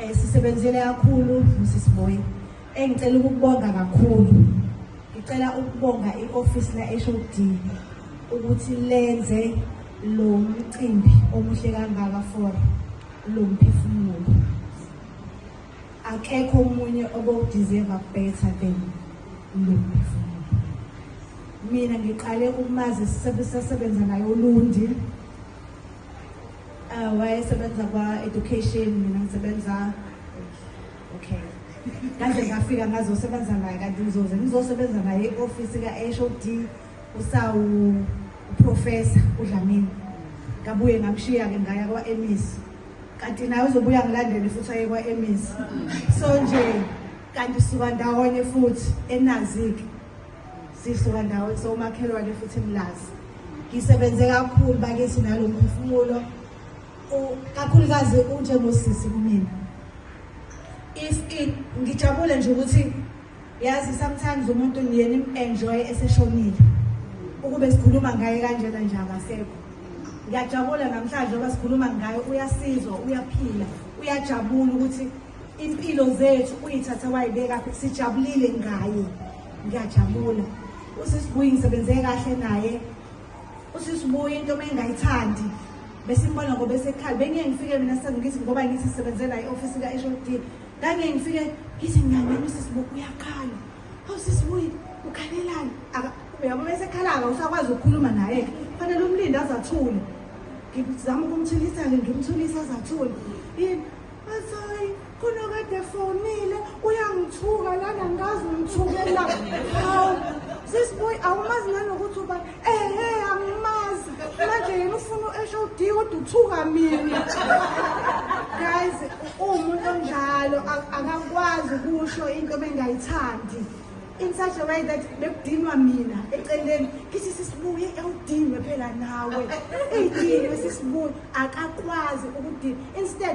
Eh sisebenzele kakhulu Mrs Moyi. Engicela ukubonga kakhulu. Ngicela ukubonga ioffice la HOD ukuthi lenze lo mcimbi omuhle kangaka for lo mphefumulo. Akekho omunye obowudeserve better than lo mphefumulo. Mina ngiqale ukumazi sisebenza naye uLundi. Uh, wayesebenza kwa-education mina ngisebenza okay kaze ngafika ngazosebenza naye kanti ngizoze ngizosebenza naye i-ofisi ka-h o d usawu uprofesa udlamini ngabuye ngamshiya-ke ngaya kwa-emis kanti naye uzobuya ngilandele futhi aye kwa-emis so nje kanti suka ndawonye futhi enazike Sisuka ndawo somakhelwane futhi mlazi. Ngisebenze kakhulu bakithi nalomphefumulo. Kakhulukazi unje ngosisi kumina. If it ngijabule nje ukuthi yazi sometimes umuntu niyena im-enjoy eseshonile ukube sikhuluma ngaye kanjena nje akasekho ngiyajabula namhlanje oba sikhuluma ngayo uyasizwa uyaphila uyajabula ukuthi impilo zethu uyithathe wayibeka sijabulile ngaye ngiyajabula usisibuyi ngisebenze kahle naye usisibuyi into uma engayithandi besimbona ngoba esekhala bengiye ngifike mina sengithi ngoba ngithi sisebenze naye i-ofisi ka-h o d ngangiye ngifike ngithi ngingangeni usisibuyi uyakhala awu sisibuyi ukhalelani uyabo besekhala-ka usakwazi ukukhuluma naye-ke fanele umlinde azathule ngizama ukumthulisa-ke ngimthulisa azathule yini Azoyi khona kade fonile uyangithuka lana ngazi ngithukela. Hawu sisiboy awumazi nanokuthi uba ehe eh, angimazi manje yena ufuna u-esho udiyi kodwa uthuka mina guys uwumuntu onjalo akakwazi ukusho into bengayithandi in such a way that bekudinwa mina eceleni kithi sisibuye ewudinwe phela nawe eyidinwe sisibuye akakwazi ukudinwa instead